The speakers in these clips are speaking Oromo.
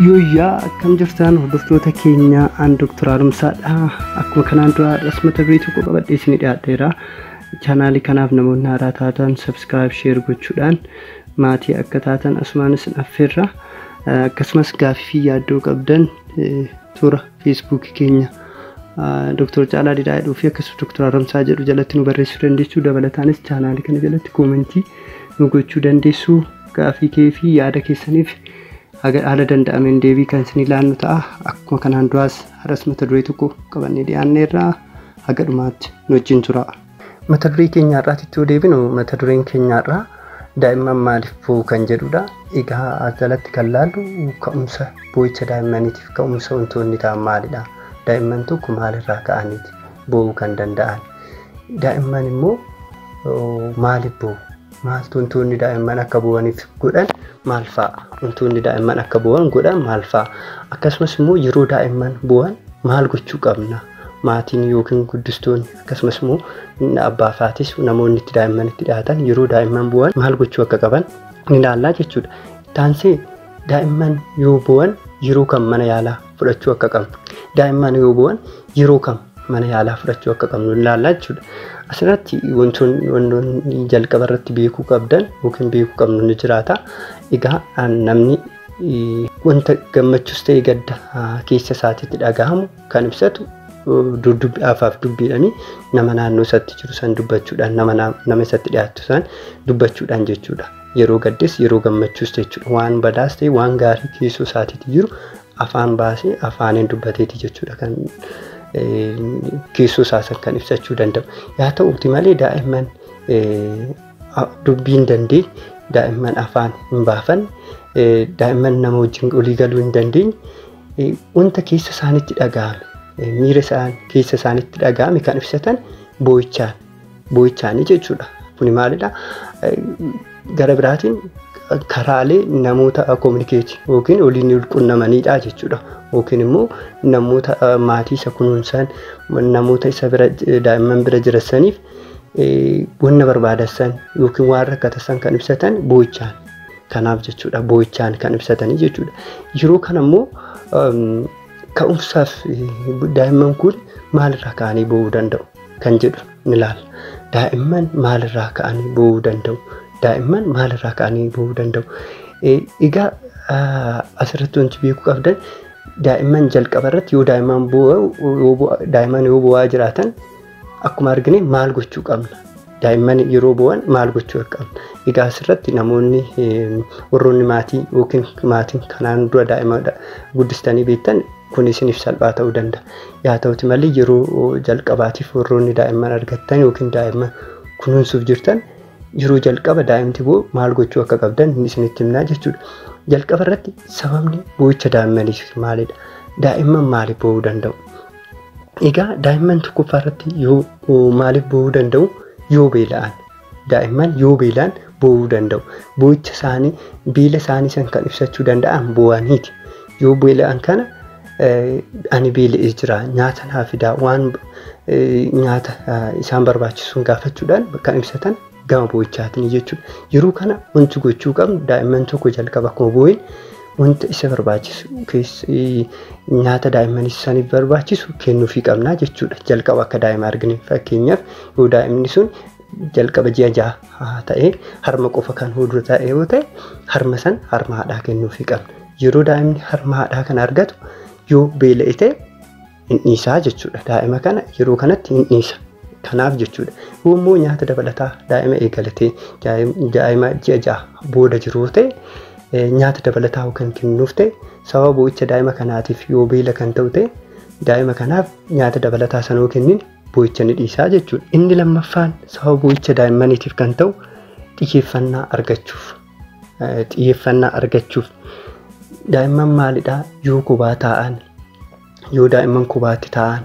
Yooyyaa akkam jirtan hordoftoota keenya aan Dr. Haaromsaadha. Akkuma kanaan dura har'as mata duree tokko qabadhee isinii dhiyaadheera. Chaanaalii kanaaf namoonni haaraa taatan subscribe share gochuudhaan Maatii akka taatan asumaan isin affeerra. Akkasumas gaafii fi yaaddoo qabdan toora feesbuukii keenya Dr. Caalaa Didhaa jedhuu fi akkasumas Dr. Haramsaa jedhu jalatti nu barreessuu dandeessu. Dabalataanis chaanaalii kana jalatti koomentii nu gochuu dandeessu. Gaafii kee fi yaada keessaniif haga haala danda'ameen deebii kan isin ilaannu ta'a. Akkuma kanaan duraas har'as mata duree tokko qabannee dhiyaanneerra. Haga dhumaatti nu wajjin turaa. Mata duree keenya har'aatitti yoo deebinu mata dureen keenya har'aa daa'imman maaliif boo'u kan jedhudha. Egaa as jalatti kan laallu ka'umsa boo'icha daa'immaniitiif ka'umsa wantoonni ta'an maalidha? Daa'imman tokko maalirraa ka'aniiti boo'uu kan danda'an? Daa'imman immoo maaliif boo'u? Maaltu wantoonni daa'imman akka boo'aniif godhan maal fa'a? Wantoonni daa'imman akka boo'an godhan maal fa'a? Akkasumas immoo yeroo daa'imman boo'an maal gochuu qabna? Maatiin yookiin guddistoonni Akkasumas immoo inni abbaa faatisu namoonni itti daa'imman itti dhiyaatan yeroo daa'imman bu'an maal gochuu akka qaban ni ilaallaa jechuudha. Taansee daa'imman yoo bu'an yeroo kam mana yaalaa fudhachuu akka qabnu daa'imman yoo bu'an yeroo kam mana yaalaa fudhachuu akka qabnu ni ilaallaa jechuudha. Asirratti wantoonni wantoonni jalqaba irratti beekuu qabdan yookiin beekuu qabnu ni jiraata. Egaa namni wanta gammachuus ta'e gadda keessa isaatiitti dhagahamu kan ibsatu dudubbi afaaf dubbiidhani nama naannoo isatti jiru san dubbachuudhaan nama nama isatti dhiyaattu san dubbachuudhaan jechuudha. Yeroo gaddes yeroo gammachuus jechuudha. Waan badaas ta'e waan gaarii keessoo isaatiitti jiru afaan baasee afaaniin dubbateeti jechuudha kan keessoo isaa san kan ibsachuu danda'u. Yaa ta'uuti malee daa'imman dubbii hin dandeenye daa'imman afaan hin baafanne daa'imman nama wajjin olii galuu hin dandeenye wanta keessa isaanitti dhaga'ame miira isaan keessa isaanitti dhaga'ame kan ibsatan boo'ichaan boo'ichaanii jechuudha. Kuni maalidha? Gara biraatiin karaalee namoota kominikeeti yookiin waliin walqunnamaniidha jechuudha. Yookiin immoo namoota maatii isa kunuunsan namoota isa bira daa'imman bira jirasaniif wanna barbaadassan yookiin waan rakkatasan kan ibsatan boo'ichaan Kanaaf jechuudha boo'ichaan kan ibsatanii jechuudha. Yeroo kana immoo ka'umsaaf daa'imman kun maalirraa ka'anii boo'uu danda'u kan jedhu ni ilaalla. Daa'imman maalirraa ka'anii boo'uu danda'u? Daa'imman maalirraa ka'anii boo'uu danda'u? Egaa asirratti wanti beekuu qabdan daa'imman jalqaba irratti yoo daa'imman boo'u daa'imman yoo boo'aa jiraatan Akkuma argine maal gochuu qabna? Daa'imman yeroo bu'an maal gochuu qabna? Egaa asirratti namoonni warroonni maatii yookiin maatiin kanaan dura daa'ima guddistanii beektan kun isiniif salphaa ta'uu danda'a. Yaa ta'uti malee yeroo jalqabaatiif warroonni daa'imman argattan yookiin daa'imman kunuunsuuf jirtan yeroo jalqaba daa'imti boo maal gochuu akka qabdan isinitti himnaa jechuudha. Jalqaba irratti sababni boo'icha daa'immaniif maalidha? Daa'imman maaliif boo'uu danda'u? Egaa daa'imman tokkoffaa irratti yoo maaliif boo'uu danda'u? Yoo beela'an. Daa'imman yoo beela'an boo'uu danda'u. Boo'icha isaanii beela isaanii san kan ibsachuu danda'an boo'aniiti. Yoo beela'an kana ani beela'ee jira nyaata naa fidaa waan nyaata isaan barbaachisuun gaafachuudhaan kan ibsatan gama boo'ichaatiin jechuudha. Yeroo kana wanti gochuu qabnu daa'imman tokko jalqaba akkuma boo'een wanta isa barbaachisu nyaata daa'imman isaaniif barbaachisu kennuufii qabna jechuudha. Jalqaba akka daa'ima argine fakkeenyaaf yoo daa'imni sun jalqaba ji'a jaha ta'ee harma qofa kan hodhu ta'e yoo ta'e harma san harma haadhaa kennuufii qabna. Yeroo daa'imni harma haadhaa kan argatu yoo beela'e ta'e hin dhiisaa jechuudha. Daa'ima kana yeroo kanatti hin dhiisa. Kanaaf jechuudha. Yoo immoo nyaata dabalataa daa'ima eegalatee daa'ima ji'a ja'a booda jiru yoo ta'e nyaata dabalataa kan kennuuf ta'e sababa boo'icha daa'ima kanaatiif yoo beela kan ta'u ta'e daa'ima kanaaf nyaata dabalataa sana yoo kennin boo'icha ni dhiisaa jechuudha. Inni lammaffaan sababa boo'icha daa'immaniitiif kan ta'u xiyyeeffannaa argachuuf. Xiyyeeffannaa argachuuf daa'imman maalidhaa yoo kophaa taa'an yoo daa'imman kubaatti taa'an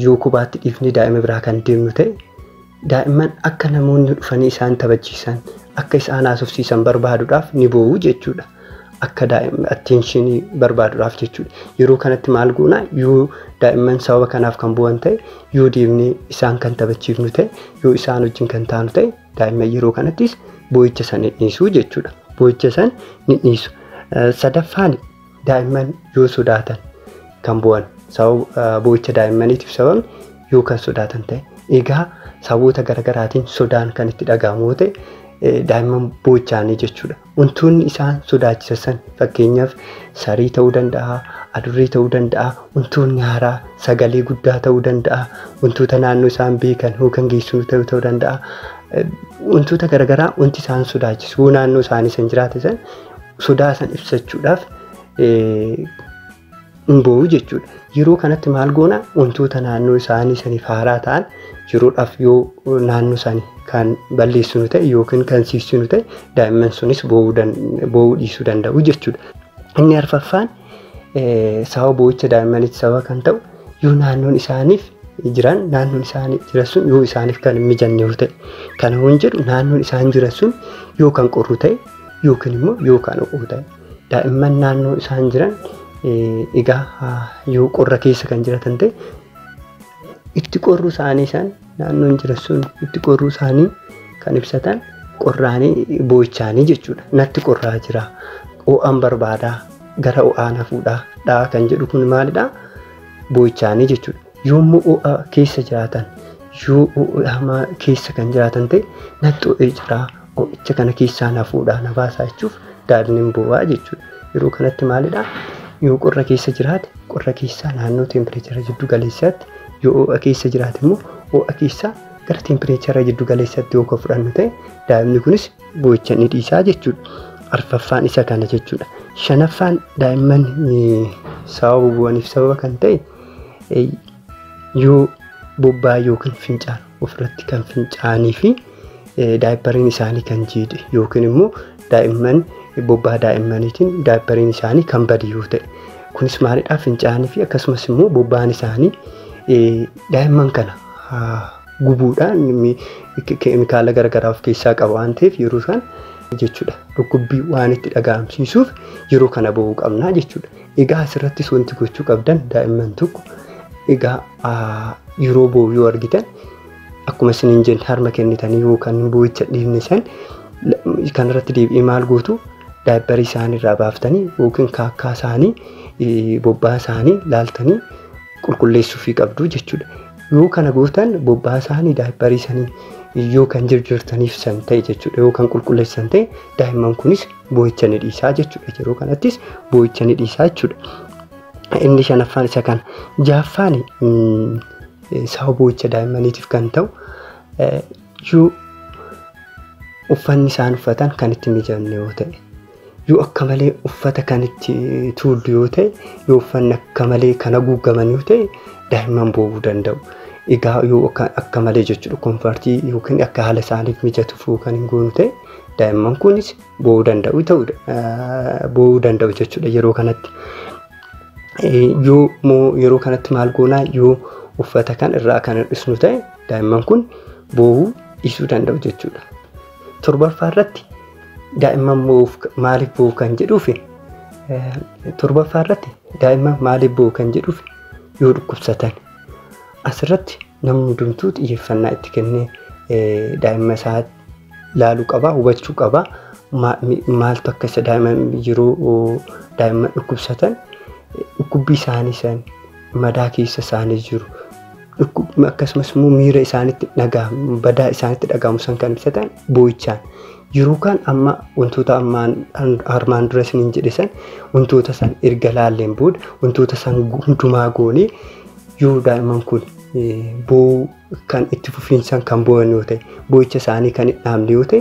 yoo kubaatti dhiifnee daa'ima biraa kan deemnu ta'e daa'imman akka namoonni dhufanii isaan taphachiisan akka isaan haasofsiisan barbaaduudhaaf ni boo'u jechuudha. Akka daa'imman atteenshinii barbaaduudhaaf jechuudha. Yeroo kanatti maal goona yoo daa'imman sababa kanaaf kan bu'an ta'e yoo deemnee isaan kan taphachiifnu ta'e yoo isaan wajjin kan taanu ta'e daa'imman yeroo kanattis boo'icha san ni dhiisu jechuudha. Boo'icha san ni dhiisu. Sadaffaan Daa'imman yoo sodaatan kan bu'an sababa boo'icha daa'immaniitiif sababni yoo kan sodaatan ta'e egaa sababoota garaagaraatiin sodaan kan itti dhaga'amu yoo ta'e daa'imman boo'ichaanii jechuudha. Wantoonni isaan sodaachisan fakkeenyaaf sarii ta'uu danda'a, adurree ta'uu danda'a, wantoonni haaraa sagalee guddaa ta'uu danda'a, wantoota naannoo isaan beekan yookaan geessuu ta'uu ta'uu danda'a. Wantoota garaagaraa wanti isaan sodaachisu yoo naannoo isaanii san jiraate san sodaa san ibsachuudhaaf hin boo'u jechuudha. Yeroo kanatti maal goona wantoota naannoo isaanii saniif haaraa ta'an yeroodhaaf yoo naannoo isaanii kan balleessinu ta'e yookiin kan siiksinu ta'e daa'imman sunis boo'uu dhiisuu danda'u jechuudha. Inni arfaffaan sababa boo'icha daa'immanitti sababa kan ta'u yoo naannoon isaaniif jiran naannoon isaanii jiran sun yoo isaaniif kan hin mijanne yoo ta'e kana waan jedhu naannoon isaan jiran sun yoo kan qorru ta'e yookiin immoo yoo kan ho'u ta'e daa'imman naannoo isaan jiran egaa yoo qorra keessa kan jiratan ta'e itti qorruu isaanii isaan naannoon jiran sun itti qorruu isaanii kan ibsatan qorraanii boo'ichaanii jechuudha. Natti qorraa jira. Ho'aan barbaadaa gara ho'aa na fuudhaa dhaa kan jedhu kun maalidhaa? Boo'ichaanii jechuudha. Yoommu'u'a keessa jiraatan yoo u'u'amaa keessa kan jiraatan ta'e natti o'ee jira o'icha kana keessaa na fuudhaa na baasaa jechuuf daadnin bu'aa jechuudha. Yeroo kanatti maalidha yoo qorra keessa jiraate qorra keessaa naannoo teempireechara jiddu galeessaatti yoo o'a keessa jiraate immoo o'a keessaa gara teempireechara jiddu galeessaatti yoo ka fudhannu ta'e daa'imni kunis boo'icha ni dhiisaa jechuudha. Arfaffaan isa kana jechuudha. Shanaffaan daa'imman sababa bu'aniif sababa kan ta'e yoo bobbaa yookiin fincaan ofirratti kan fincaanii fi daayippariin isaanii kan jiidhe yookiin immoo daa'imman bobbaa daa'immaniitiin daayippariin isaanii kan bade yoo ta'e kunis maalidhaa fincaanii fi akkasumas immoo bobbaan isaanii daa'imman kana gubuudhaan keemikaala garaagaraa of keessaa qaba waan ta'eef yeroo isaan jechuudha dhukkubbii waan itti dhaga'amsiisuuf yeroo kana ba'uu qabnaa jechuudha. Egaa asirrattis wanti gochuu qabdan daa'imman tokko egaa yeroo boo'u yoo argitan akkuma isin hin jenne harma kennitanii yookaan boo'icha dhiifne san kanarratti deebi'ee maal gootu daayipparii isaanii irraa baaftanii yookiin kaakkaa isaanii bobbaa isaanii laaltanii qulqulleessuufii qabdu jechuudha. Yoo kana gootan bobbaa isaanii daayipparii isaanii yoo kan jirjirtaniif san ta'e jechuudha yoo kan qulqulleessan ta'e daa'imman kunis boo'icha ni dhiisaa jechuudha. Yeroo kanattis boo'icha ni dhiisaa jechuudha. Inni shanaffaan isa kana. Jahaffaan sababa boo'icha daa'immaniitiif kan ta'u yoo uffanni isaan uffatan kan itti mijanne yoo ta'e yoo akka malee uffata kan itti tuullu yoo ta'e yoo uffanni akka malee kan haguuggaman yoo ta'e daa'imman boo'uu danda'u. Egaa yoo akka malee jechuudha konfartii yookiin akka haala isaaniif mijatuuf kan hin goonu ta'e daa'imman kunis boo'uu danda'u ta'udha. Boo'uu danda'u jechuudha yeroo kanatti. Yoo moo yeroo kanatti maal goonaa yoo uffata kan irraa kan hir'isnu ta'e daa'imman kun boo'uu dhiisuu danda'u jechuudha. Torbaffaa irratti daa'imman boo'uuf maaliif boo'u kan jedhuuf torbaffaa irratti daa'imman maaliif boo'u kan jedhuuf yoo dhukkubsatan asirratti namni hundumtuu xiyyeeffannaa itti kennee daa'imma isaatti laalu qaba hubachuu qaba maaltu akka isa daa'ima yeroo daa'ima dhukkubsatan dhukkubbii isaanii san madaa keessa isaanii jiru dhukkubni akkasumas immoo miira isaanitti dhaga'amu badaa isaanitti dhaga'amu san kan ibsatan boo'ichaan yeroo kaan amma wantoota ammaan armaan dura isiniin jedhe san wantoota san erga laalleen booda wantoota san hundumaa goonee yoo daa'imman kun boo'uu kan itti fufiinsaan kan boo'an yoo ta'e boo'icha isaanii kan hin dhaabne yoo ta'e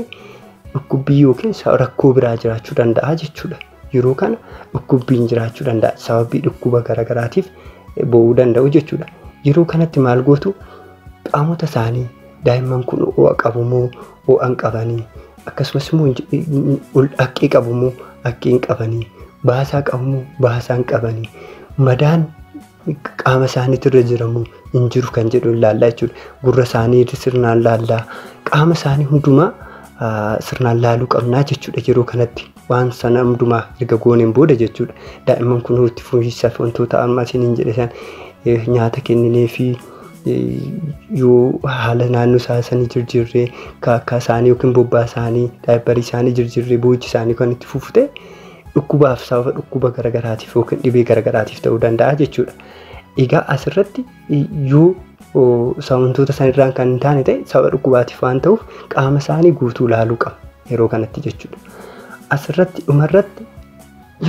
dhukkubbii yookiin sa- rakkoo biraa jiraachuu danda'a jechuudha. Yeroo kana dhukkubbiin jiraachuu danda'a sababii dhukkuba garaagaraatiif eh, boo'uu danda'u jechuudha. Yeroo kanatti maal gootu qaamota isaanii daa'imman kun ho'a qabu moo ho'a hin qabanii akkasumas immoo hin je- hin- ol haqqee qabu moo haqqee hin qabanii baasaa qabu moo baasaa hin qabanii madaan qaama isaaniitu irra jiramu hin jiru kan jedhu ilaallaa jechuudha. Gurra isaanii sirnaan laallaa qaama isaanii hundumaa sirnaan laaluu qabnaa jechuudha yeroo kanatti waan sana hundumaa erga gooneen booda jechuudha. Daa'imman kun itti fufiinsaaf wantoota amma isin hin jedhe san nyaata kenninee fi yoo haala naannoo isaa sanii jirjirree kaakkaa isaanii yookiin bobbaa isaanii daayibbarii isaanii jirjirree boochi isaanii kan itti fufu ta'e dhukkubaaf sababa dhukkuba garagaraatiif yookiin dhibee garagaraatiif ta'uu danda'a jechuudha. Egaa asirratti yoo wantoota sanirraan kan hin taane ta'e sababa dhukkubaatiif waan ta'uuf qaama isaanii guutuu ilaaluu qaba yeroo kanatti jechuudha. Asirratti dhumarratti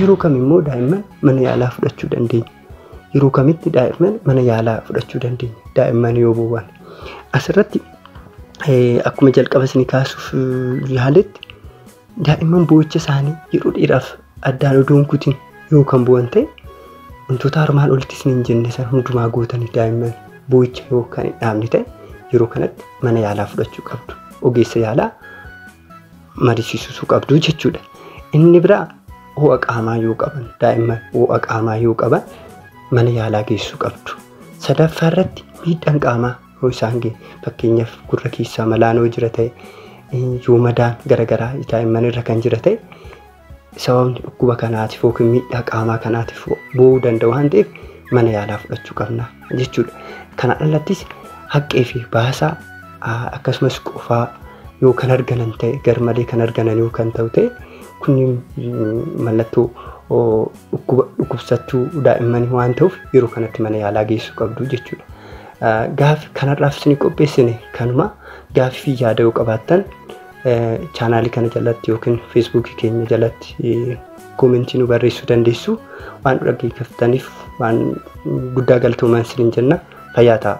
yeroo kam immoo daa'imman mana yaalaa fudhachuu dandeenya. Yeroo kamitti daa'imman mana yaalaa fudhachuu dandeenya daa'imman yoo bowwaan. Asirratti akkuma jalqaba isin kaasuuf yaaletti Daa'imman boo'icha isaanii yeroo dheeraaf addaan odoo hin kutin yoo kan bu'an ta'e wantoota armaan olitti isiniin jenne san hundumaa gootanii daa'imman boo'icha yoo kan hin dhaabne ta'e yeroo kanatti mana yaalaa fudhachuu qabdu. Ogeessa yaalaa mariisiisuu qabdu jechuudha. Inni biraa ho'a qaamaa yoo qaban daa'imman ho'a qaamaa yoo qaban mana yaalaa geessuu qabdu. Sadaffaa irratti miidhaan qaamaa Yoo isaan ge fakkeenyaaf gurra keessaa malaan yoo jira ta'e yoo madaan garagaraa daa'imman irra kan jira ta'e sababni dhukkuba kanaatiif yookiin miidhaa qaamaa kanaatiif bu'uu danda'a waan ta'eef mana yaalaa fudhachuu qabna jechuudha. Kana alattis haqqee fi baasaa akkasumas qufaa yoo kan arganan ta'e garmalee kan arganan yoo kan ta'u ta'e kunniin mallattoo dhukkuba dhukkubsattuu daa'immanii waan ta'uuf yeroo kanatti mana yaalaa geessuu qabdu jechuudha. Gaaffi kanarraaf isinii qopheessine kanuma. Gaaffii fi yaada yoo qabaattan chaanaalii kana jalatti yookiin feesbuukii keenya jalatti koomentii nu barreessuu dandeessu. Waan nu dhaggeeffattaniif waan guddaa galatoomaa isiniin jenna. Fayyaa ta'aa.